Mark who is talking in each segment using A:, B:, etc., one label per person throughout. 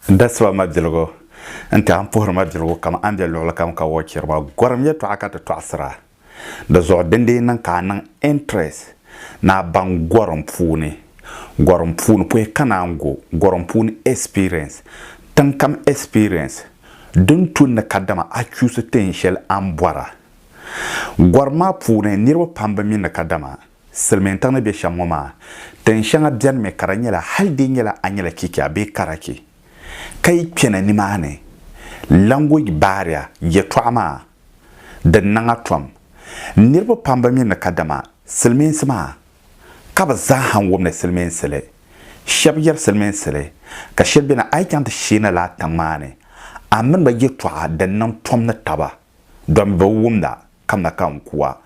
A: N da siba mabiligu n-ti a n puhiri mabiligu kaman a ni be luɣili kam ka wuhi chiriba. Gɔrim yɛtɔɣa ka ti tɔɣisir a. Di zuɣu din dii niŋ ka a niŋ interest ni a baŋ gɔrim puuni, gɔrim puuni poyi ka naan go, gɔrim puuni experience, tiŋkam experience din tu ni kadama a chuusi teen shɛli a ni bɔra. Gɔrim maa puuni niriba pam bi mi ni kadama Silimiintiŋ ni be shɛm ŋɔ maa, tin shɛŋa bɛnimi ka di nyɛla hali di nyɛla a nyɛla Kikya bee Karaki ka yi kpɛna nimaani, language barrier, yɛtɔɣa maa di niŋ a tom. Niriba pam bi mi ni kadama Silimiinsi maa ka bɛ zaaha n-wum ni Silimiinsi li. Shɛb yɛri Silimiinsi li ka shɛb beni a yi chaŋ ti sheena lala tiŋ maa ni, a mini ba yɛtɔɣa din niŋ tom ni taba. Dɔmi bi wumda kamina ka n ku a,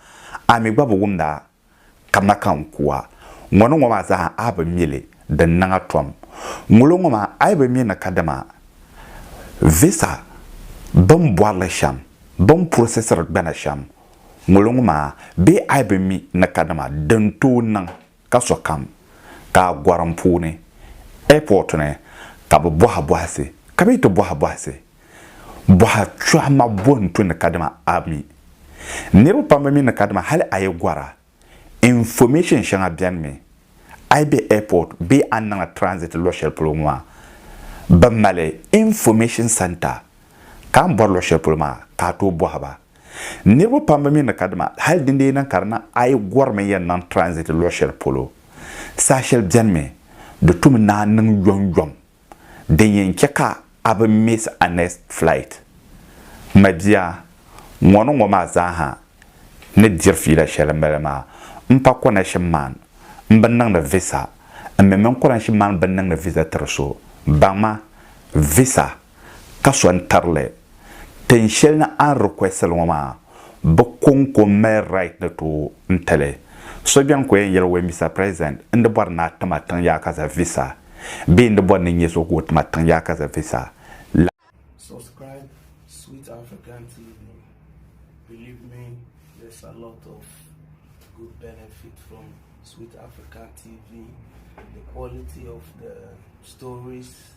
A: a mi gba bi wumda kamina ka n ku a. Ŋɔ ni ŋɔ maa zaa a bi mi li, di ni niŋ a tom. Ŋuli ŋɔ maa a yi bi mi ni kadama visa bini bɔri li shɛm, bini processiri gbana shɛm, ŋuli ŋɔ maa bee a yi bi mi ni kadama din tooi niŋ. ka sokam ka a gorim puuni, airport ni, ka bɛ bohi bohisi, ka bɛ yi ti bohi bohisi, boha chuha ma bo n-to ni kadama a mi. Niriba pam bi mi ni kadama hali a yi gora, information shɛŋa beni mi, a yi be airport bee a ni niŋla transit luɣ shɛli polo ŋɔ maa, bɛ mali information centre, ka a ni bori luɣ shɛli polo maa ka a tooi bohi ba. Niriba pam bi mi ni ka dima hali din dee niŋ ka di niŋ a yi gorimi yɛn niŋ transit luɣi shɛli polo saha shɛli beni mi di tu mi naan niŋ yom yom din yɛn che ka a bi miss a next flight. M ma bia ŋɔ ni ŋɔ maa zaa ha ni diri fiila shɛli m mali maa m pa connection man m bi niŋdi visa m mi mini connection man bi niŋdi visa tiri so baŋ ma visa ka so n-tari li. Tin shɛli ni a ni request li ŋɔ maa, bɛ kɔŋko mali right ni tooi n-ti li. So beni ka o yɛn yɛli o, Mister President, n di bɔri ni a ti ma tiŋ yaakaza visa bee n di bɔri ni n nyɛ so ka o ti ma tiŋ yaakaza visa la. Subscribe sweet African TV believe me there's a lot of good benefit from sweet African TV the quality of the stories.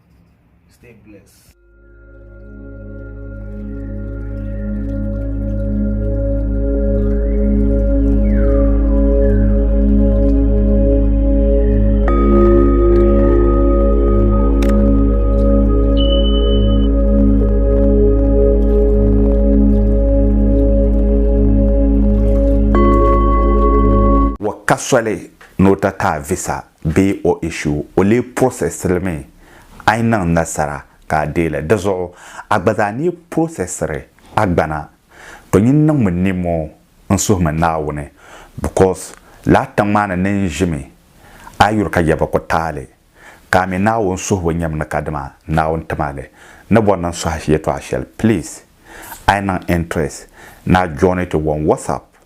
A: Stay blessed. Wa ka soli ni o ti kaai visa bee o issue, o lee processiri mi a yi niŋ nasara ka a deei li. Di zuɣu a gba zaa ni yi processiri a gbana, to nyin niŋmi nimmoo n-suhimi Naawuni because lala tiŋ maa ni ni n ʒimi a yi yuri ka ya bi ku taali, ka a mi Naawuni suhibu nyɛmi ni kadama Naawuni ti ma li. Ni bɔri ni n suhi yɛtɔɣa shɛli please a yi niŋ interest ni a join ti on WhatsApp.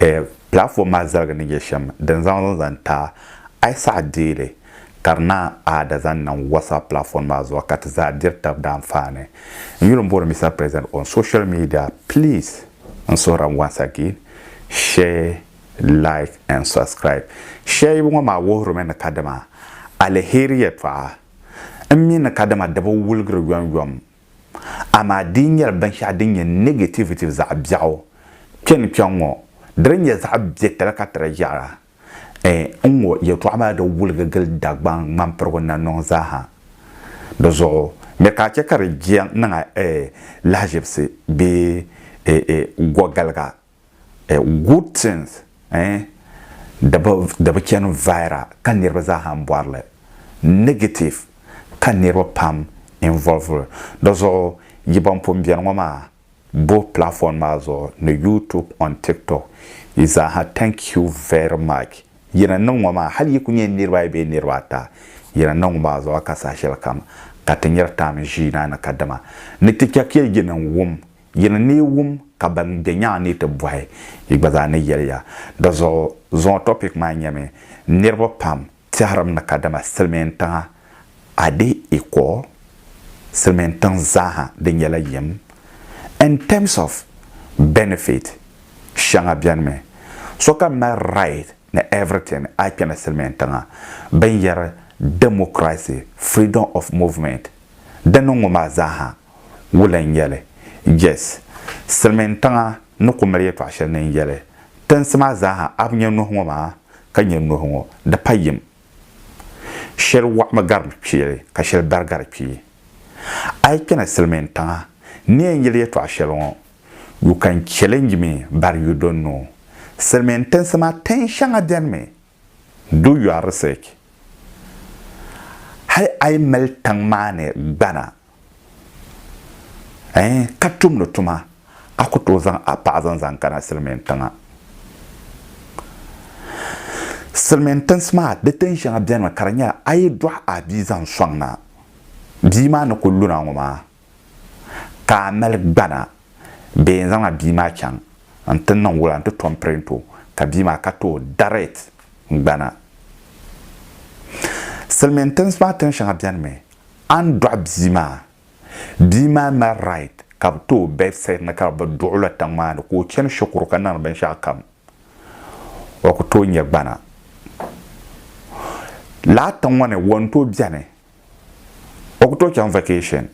A: eh, platform maa zaligi ni nyɛ shem din zaŋ zaŋ zaŋ ta ai saha deeli ka di naan aada zaŋ niŋ WhatsApp platform maa zuɣu ka ti zaa diri tab daanfaani. N yuli m-bɔri Mister President on social media please n suhiri n once again share, like and subscribe. Share yibu ŋɔ maa wuhiri mi ni kadama aliheri yɛtɔɣa m mi ni kadama di bi wuligiri yom yom Amaa di yi nyɛla binshɛɣu din nyɛ negativitiv zaɣ biɛɣu kpe ni kpe ŋɔ, di di nyɛ zaɣ biɛtali ka ti di yaɣira. Ɛ n ŋɔ yɛtɔɣa maa di wuligi gili Dagbaŋ ŋmampirigu nanɔŋ zaaha. Di zuɣu mi ka a chɛ ka di jia niŋ a ɛ lahaʒibisi bee ɛ ɛ gɔgaliga eh, good things eh, di bi, di bi chani viral ka niriba zaa ha m-bɔri li, negative ka niriba pam involve li. Di zuɣu yi ban pun beni ŋɔ maa, both platform maa zuɣu ni YouTube on TikTok, yi zaa ha thank you very much. Yi ni niŋ ŋɔ maa, hali yi ku nyɛ niriba ayi bee niriba ata, yi ni niŋ ŋɔ maa zuɣu ka saha shɛlikam ka ti nyari taam ʒii naa ni kadama ni ti chɛ ka yi ni wum Yi ni neei wum ka ban be nyaŋ ni ti bɔhi, yi gba zaa ni yɛliya. Di zuɣu zuŋɔ topic maa nyɛmi, Niriba pam tɛhirim ni kadama silimiin tiŋa a di ikɔ silimiin tiŋ zaaha di nyɛla yim in terms of benefit shɛŋa bɛnimi sokam mali right ni everything a kpɛna silimiin tiŋa bɛn yɛri democracy freedom of movement di niŋ ŋɔ maa zaaha wula n-yɛli, Jess, silimiin tiŋa ni ku mali yɛtɔɣ shɛli ni n-yɛli, Tinsi maa zaa ha a bi nya nuhi ŋɔ maa, ka nya nuhi ŋɔ, di pa yim. Shɛli wɔɣimi gari kpeeli ka shɛli bari gari kpee. A yi kpɛna silimiin tiŋa ni yɛn yɛli yɛtɔɣ shɛli ŋɔ, You can challenge me but you don't know. Silimiin tinsi maa tin shɛŋa beni mi. Do your research. Hali a yi mali tiŋ maa ni gbana Ɛɛn, ka tumdi tuma, a ku tooi zaŋ a paɣa zaŋ zaŋ kana silimiin tiŋa. Silimiin tinsi maa, di tin shɛŋa bɛnimi ka di nyɛla a yi dɔɣi a bia zaŋ sɔŋ na, bia maa ni ku luna ŋɔ maa, ka a mali gbana bee n zaŋ a bia maa chaŋ n ti niŋ wula n ti tom pirinti o ka bia maa ka tooi darit gbana. Silimiin tinsi maa tin shɛŋa bɛnimi A ni dɔɣi bia maa, bia maa mali right ka bɛ ti o birth cert ni ka bɛ duɣi o la tiŋ maa ni ka o chani shikuru ka niŋdi binshɛɣu kam. O ku tooi nyɛ gbana. Lala tiŋ ŋɔ ni wɔnto beni. O ku tooi chaŋ vacation.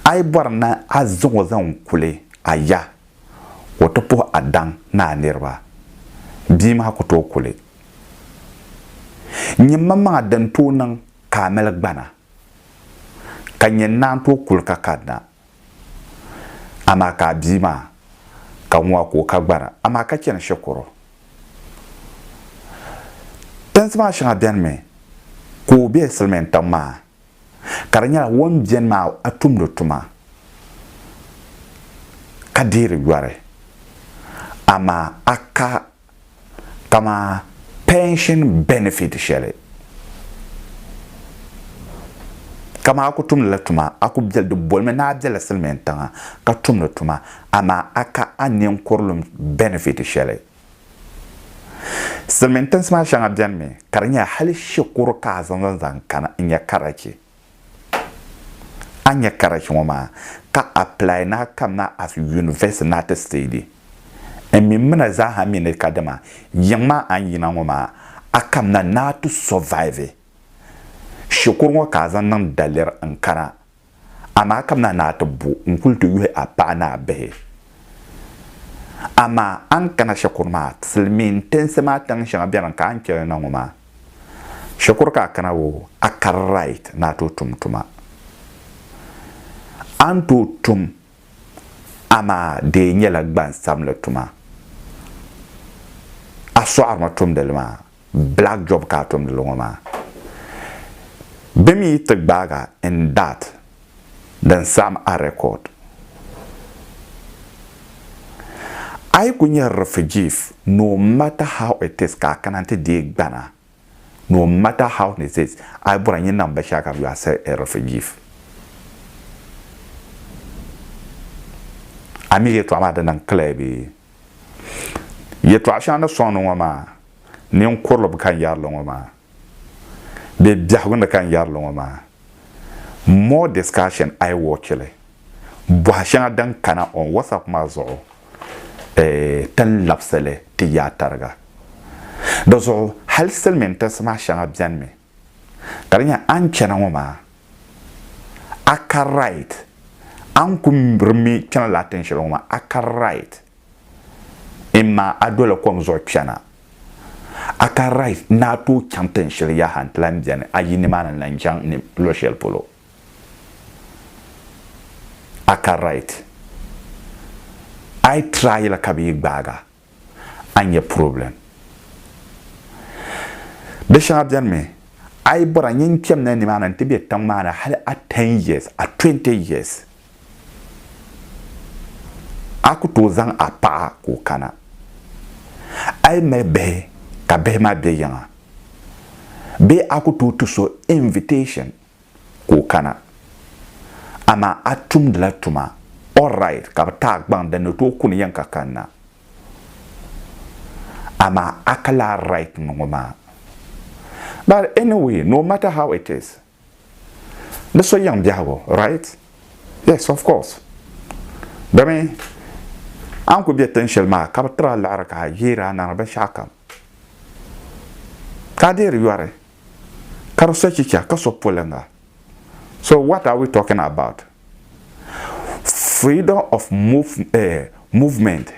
A: A yi bɔri ni a zaŋ o zaŋ kuli a ya ka o ti puhi a daŋ ni a niriba, bia maa ku tooi kuli. Nyini maŋmaŋa din tooi niŋ ka a mali gbana, ka n yɛn naan tooi kuli ka kanna. Amaa ka a bia maa, ka ŋun a ku o ka gbana, amaa ka chani shikuru. Tinsi maa shɛŋa benimi ka o be silimiin tiŋ maa, ka di nyɛla o ni beni maa a tumdi tuma, ka deeri yɔri, amaa a ka Kamani pension benefit sheli kamani a ku tumdi la tuma a ku beli di bolimi ni a bela silimiin tiŋa ka tumdi tuma amaa a ka a ninkurilum benefit sheli. Silimiin tinsi maa sheŋa benimi ka di nyɛla hali shikuru ka a zaŋ zaŋ zaŋ kana n-nyɛ Karachi. A nya karachi ŋɔ maa ka apply na kam na as university na ti steady. N mi mina zaaha mi ni ka dama yiŋ maa a ni yina ŋɔ maa a kam na ni a ti survive. Shikuru ŋɔ ka a zaŋ niŋ daliri n kana amaa a kam na ni a ti bo n kuli ti yuhi a paɣa ni a bihi. Amaa a ni kana shikuru maa silimiin tinsi maa tiŋ shɛŋa beni ka a ni cheli na ŋɔ maa. Shikuru ka a kana o, a kari right ni a tooi tum tuma. A ni tooi tum amaa di nyɛla gbansabinli tuma. A sɔɣirimi tumdi li maa, black job ka a tumdi li ŋɔ maa. Bɛ mi yi ti gbaag a in that. din saɣim a record. A yi ku nyɛ refugees, no matter how it is ka a kana nti deei gbana, no matter how it is, a yi bɔra nyini na m-ba shɛli ka bɛ yo a still a refugees. A mi yɛltɔɣa maa di niŋ clear bee? Yɛltɔɣa shɛŋa ni sɔŋ ni ŋɔ maa, ninkurili bi kan yɛri li ŋɔ maa. Bɛ biɛhigu ni ka n yɛri li ŋɔ maa, more discussion iWatch li bɔhi shɛŋa din kana on WhatsApp maa zuɣu ti ni labisi li ti yaai tariga. Di zuɣu hali silimin tinsi maa shɛŋa beni mi ka di nyɛla a ni chana ŋɔ maa a ka right a ni ku rimmi chana lala tinshɛli ŋɔ maa a ka right. Imma a doli kom zuɣu kpɛna, a ka Rice ni a tooi chaŋ tin shɛli yaha n-ti lan beni a yi nimaani la n-chaŋ ni luɣ shɛli polo. A ka Wright, a yi try la ka bɛ yi gbaag a, a nya problem. Di shɛŋa beni mi, a yi bɔra n-yen kpɛmla nimaani n-ti be tiŋ maa ni hal a ten years, a twenty years. A ku tooi zaŋ a paɣa ka o kana. A yi mali bihi ka bihi maa be yiŋa bee a ku tooi ti so invitation ka o kana amaa a tumdila tuma alright ka bi ti a gbaŋ din ni tooi kuni yiŋ ka kanna amaa a ka lahi right ni ŋɔ maa. But anyway no matter how it is Di so yiŋ biɛhigu, right? Yes, of course. Domin a ni ku be tin shɛli maa ka bi tiri a liɣiri ka a yeeri a naŋdi binshɛɣu kam, ka a deeri yɔri, ka di so chicha, ka so poliŋga. So what are we talking about? Freedom of movement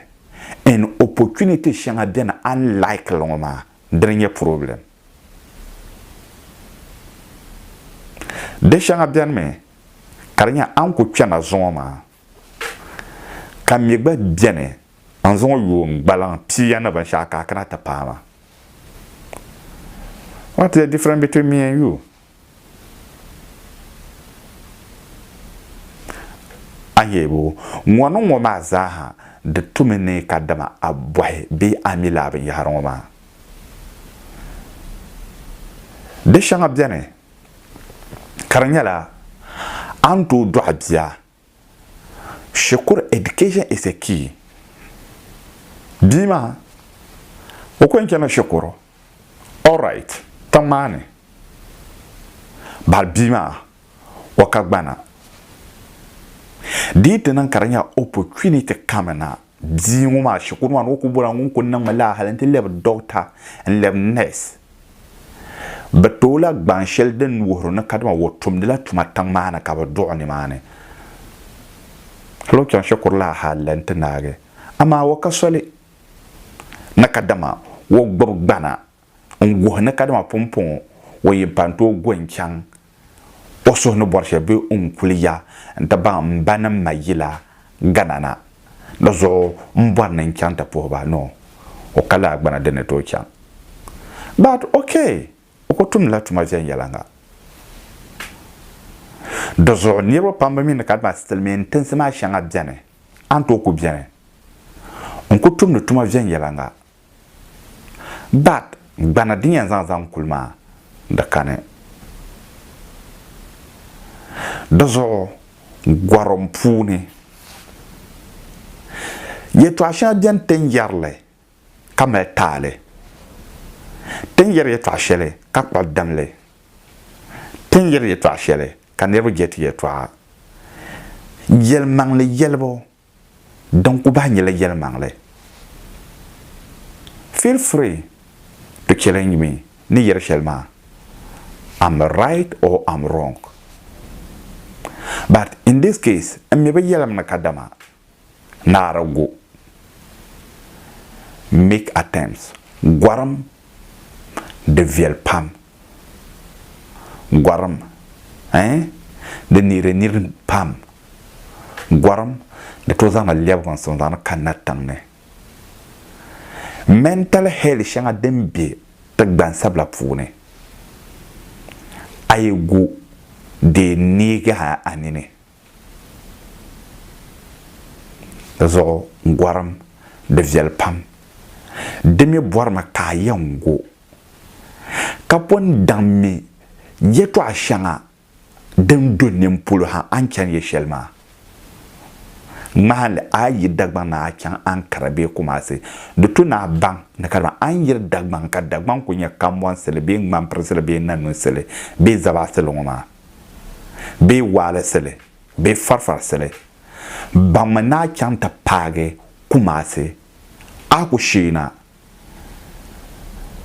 A: and opportunity shɛŋa beni a ni like li ŋɔ maa. Dini nyɛ problem. Di shɛŋa beni mi ka di nyɛ a ni ku kpe na zuŋɔ maa ka mi gba beni n zuŋɔ yooi n gbaliŋ pia ni binshɛɣu ka a kana ti paai ma. What is the difference between me and you? Ahiɛbu, ŋɔ ni ŋɔ maa zaaha di tumi ni ka dama a bɔhi bee a mi lala binyɛhiri ŋɔ maa. Di shɛŋa beni ka di nyɛla a ni tooi dɔɣi bia Shikuru education is a key. Bia maa o ko n chana shikuru all right tiŋ maa ni bari bia maa o ka gbana dii ti niŋ ka di nyɛ opportunity kami na Bia ŋɔ maa shikuru maa ni o kuli bɔra ŋun kuli niŋmi laa hali nti lɛbi dɔkta n-lɛbi nɛs. Bɛ tooi la gbaŋ shɛli din wuhiri ni kadama o tumdila tuma tiŋ maa ni ka bɛ duɣi nimaani. Hali o chaŋ shikuru laa hali la nti naagi. Amaa o ka soli ni kadama o gbibi gbana. n guhi ni kadama pumpɔŋɔ o yi pa n-tooi go n-chaŋ o suhu ni bɔri shɛli bee n kuli ya n-ti baŋ m ba ni m ma yila Ghana na. Di zuɣu m bɔri ni n chaŋ ti puhi ba noo o ka lahi gbana di ni tooi chaŋ. But ok, o ku tumdi la tuma viɛnyɛliŋga. Di zuɣu niriba pam bi mi ni kadama silimiin tinsi maa shɛŋa beni a ni tooi ku beni n ku tumdi tuma viɛnyɛliŋga But gbana din yɛn zaŋ zaŋ kuli maa di kani. Di zuɣu gorim puuni yɛltɔɣa shɛŋa beni ti ni yɛri li ka mali taali. Ti ni yɛri yɛltɔɣa shɛli ka kpuɣi dam li. Ti ni yɛri yɛltɔɣa shɛli ka niriba je ti yɛltɔɣa. Yɛlimaŋli yɛlibu din ku bahi nyɛla yɛlimaŋli. Feel free to challenge me ni yɛri shɛli maa am right or am wrong but in this case n mi bi yɛlim ni kadama naara go make attempts gorim di viɛli pam. Gɔrim, eh, di neeri nir pam. Gɔrim, di tooi zaŋla lɛbigu n-suŋ zaŋdi kanna tiŋ ni. Mental hell shɛŋa din be ti gbansabila puuni, a yi gu di neegi a a nini. Di zuɣu gɔrim, di viɛli pam. Di mi bɔrimi ka a yɛn gu ka pun daŋmi yɛtɔɣ shɛŋa din do nini polo ha a ni chani yɛ shɛli maa. Ŋmahili a yi Dagbaŋ ni a chaŋ Ankara bee Kumasi, di to ni a baŋ ni kadama a ni yiri Dagbaŋ ka Dagbaŋ kul nyɛ kambɔnsili bee ŋmampirisili bee nanunsili bee zabaasili ŋɔ maa bee waalisili bee farifarisili. Baŋmi ni a chaŋ ti paagi Kumasi, a ku sheei na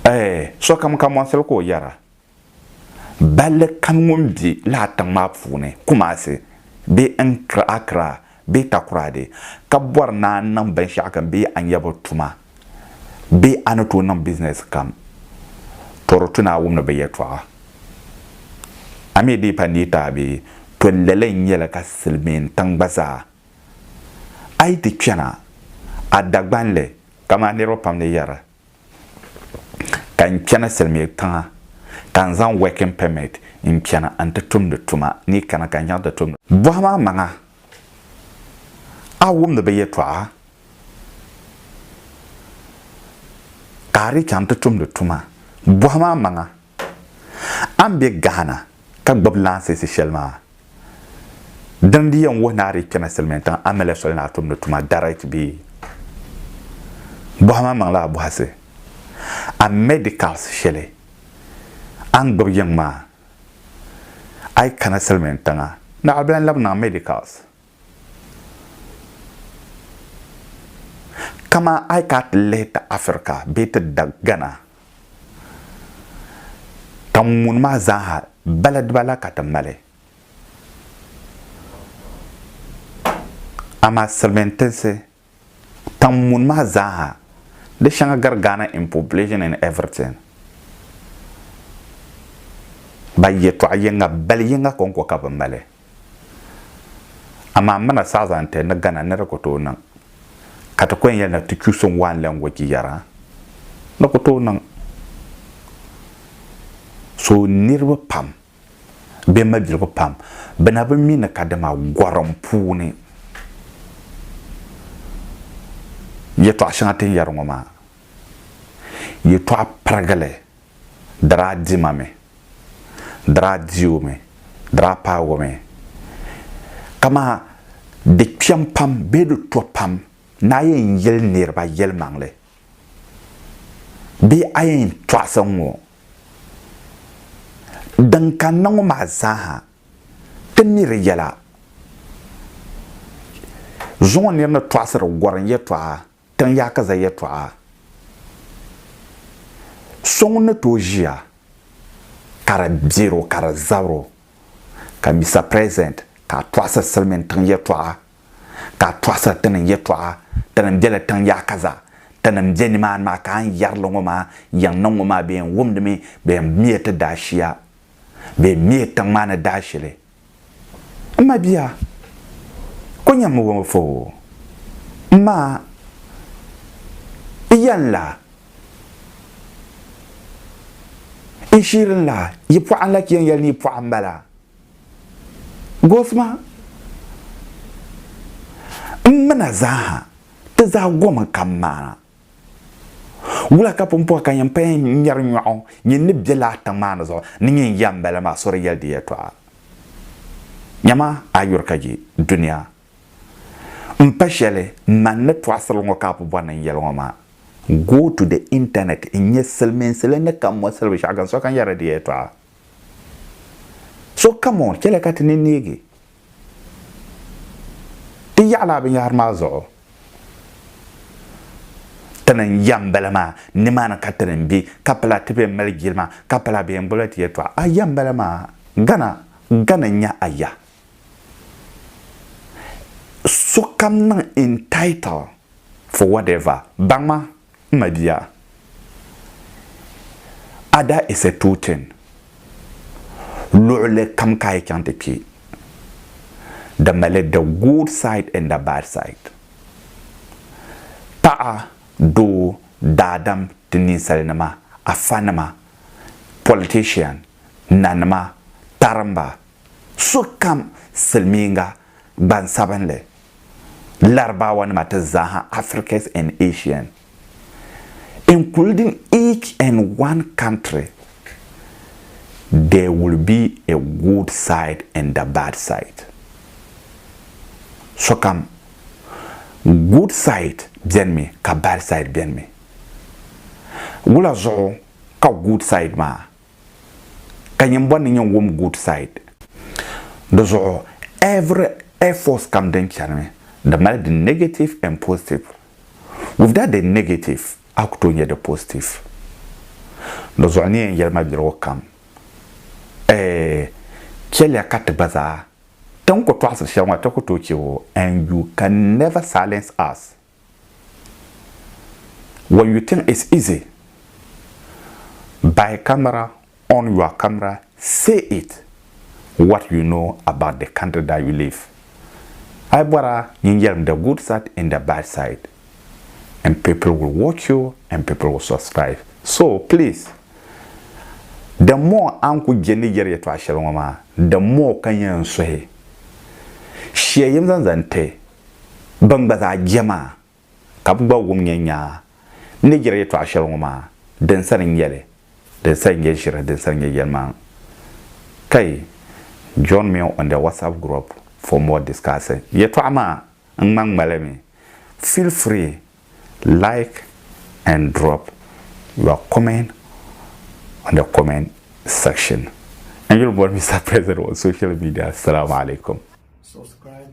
A: Ɛɛ, sokam ka mɔɣisiri ka o yɛra, balli kam ŋun be lala tiŋ maa puuni, Kumasi bee Nkra, Accra bee Takoradi, ka bɔri ni a niŋ binshɛɣu kam bee a nyɛbu tuma bee a ni tooi niŋ bizinɛsi kam, tɔ di tu ni a wumdi bɛ yɛtɔɣa. A mi dii pa neei taabi, tɔ lala n-nyɛ li ka Silimiin tiŋ gba zaa, a yi ti chana a Dagbanli, Kaman niriba pam ni yɛra, ka n chani Silimiya tiŋa ka n zaŋ working permit n chana nti tumdi tuma ni kana ka n chaŋ ti tumdi. Bɔhim a maŋa, a wumdi bɛ yɛtɔɣa ka a dii chaŋ ti tumdi tuma? Bɔhim a maŋa, A ni be Ghana ka gbibi lansisi sheli maa, dini di yen wuhi ni a di kpemi silimiintiŋ a mali soli ni a tumdi tuma direct bee? Bohima n maŋla a bohisi. A medicals sheli a ni gbibi yiŋ maa, a yi kana silimiintiŋa, naɣila bela n labi niŋ a medicals. Kaman a yi ka ti lihi ti Afirika bee ti Ghana ka ŋun maa zaaha baladiba la ka ti mali. Amaa silimiintinsi Tam mun maa zaaha di shɛŋa gari Ghana in population and everything. Ba yɛtɔɣa yiŋa bali yiŋa kɔŋko ka bɛ mali. Amaa muna southern ti ni Ghana ni di ku tooi niŋ ka ti ku yɛn yɛli ni ti choosing one language yɛra, di ku tooi niŋ. So niriba pam. bɛ mabiligu pam bɛ na bi mi ni kadama gɔrim puuni yɛtɔɣ shɛŋa ti ni yɛri ŋɔ maa yɛtɔɣ pirigili diri a dima mi diri a diu mi diri a paagu mi kamaa di kpɛm pam bee di to pam ni a yɛn yɛli niriba yɛlimaŋli. Bee a yɛn tɔɣisi ŋɔ? Din kanna ŋɔ maa zaaha ti mi di yɛla. Zuŋɔ nir ni tɔɣisiri gɔrim yɛtɔɣa tiŋ yaakiza yɛtɔɣa, so ŋun ni tooi ʒiya ka di bɛr o ka di zabir o ka mi sa present ka a tɔɣisiri silimiintiŋ yɛtɔɣa. ka a tɔɣisiri tinim yɛtɔɣa, tinim bela tiŋ yaɣa ka zaa, tinim be nimaani maa, ka a ni yɛri li ŋɔ maa, yiŋ niŋ ŋɔ maa bɛ yɛn wumdi mi bɛ yɛn miya ti daashia, bɛ yɛn miya tiŋ maa ni daashili. M mabia, ko nyam mi wɔm foo, m ma, n ya n la, n shiri n la, yi pɔɣa n lahi yɛn yɛli ni yi pɔɣa m bala. Gosuma n mina zaaha ti zaa gomi ka maana. Wula ka pumpɔŋɔ ka nyini paya ŋmɛri nyɔɣu nyini ni be laa tiŋ maa ni zuɣu ni nyini ya m bala maa so di yɛli di yɛltɔɣa. Nyama a yuri ka je dunia m pa shɛli man ni tɔɣisiri ŋɔ ka a pu bɔri ni n yɛli ŋɔ maa. Go to the internet n nya silimiinsi li ni ka mɔsili binshɛɣu gani so ka nyɛri di yɛltɔɣa. So kam o chɛli ka ti ni neegi ti yaɣili a binyɛhiri maa zuɣu. Ti ni yɛm m-bala maa, nimaani ka ti ni be, ka pala ti bɛn mali jilima, ka pala bɛ yɛn gbibila ti yɛltɔɣa. A ya m-bala maa, gana, gana n-nyɛ a ya. Sokam niŋ entitled for whatever, baŋ ma. M mabia, a daa yiɣisi tooi chani luɣili kam ka a yi chaŋ ti kpe. Di mali the good side and the bad side. Paɣa, doo, daadam, ti ninsalinima, afanima, politician, nanima, tarimba, sokam, silimiinga, gbansabinli, Larabawanima ti zaaha Africas and Asian, including each and one country, there will be a good side and the bad side. Sokam good side benimi ka bad side benimi. Wula zuɣu ka good side maa ka nyin bɔri ni nyin wum good side. Di zuɣu every air force kam din chanimi di mali di negative and positive. Without the negative a ku tooi nya di positive. Di zuɣu ni yɛn yɛli ma birigu kam eh chɛliya ka ti gba zaa ti ni ku tɔɣisiri shɛli ŋɔ ti ku tooi che o and you can never silence us. When you think it's easy buy camera on your camera say it what you know about the country that you live a yi bɔra yin yɛlim the good side and the bad side and people will watch you and people will subscribe so please the more a ni ku je ni yɛri yɛtɔɣa shɛli ŋɔ maa the more ka yɛn suhi shia yim zaŋ zaŋ ti ban gba zaa je maa, ka bɛ gba wum nyɛ nyaa ni jiri yɛtɔɣ shɛli ŋɔ maa din sani n-nyɛ li, din sani nyɛ ʒiri, din sani nyɛ yɛlimaŋ. Kai, join me on the WhatsApp group for more discussion. Yɛtɔɣ maa ŋma ŋmali mi. Feel free like and drop your comment on the comment section. N yuli boli Mister President on social media. Salaam alaikum. Subscribe.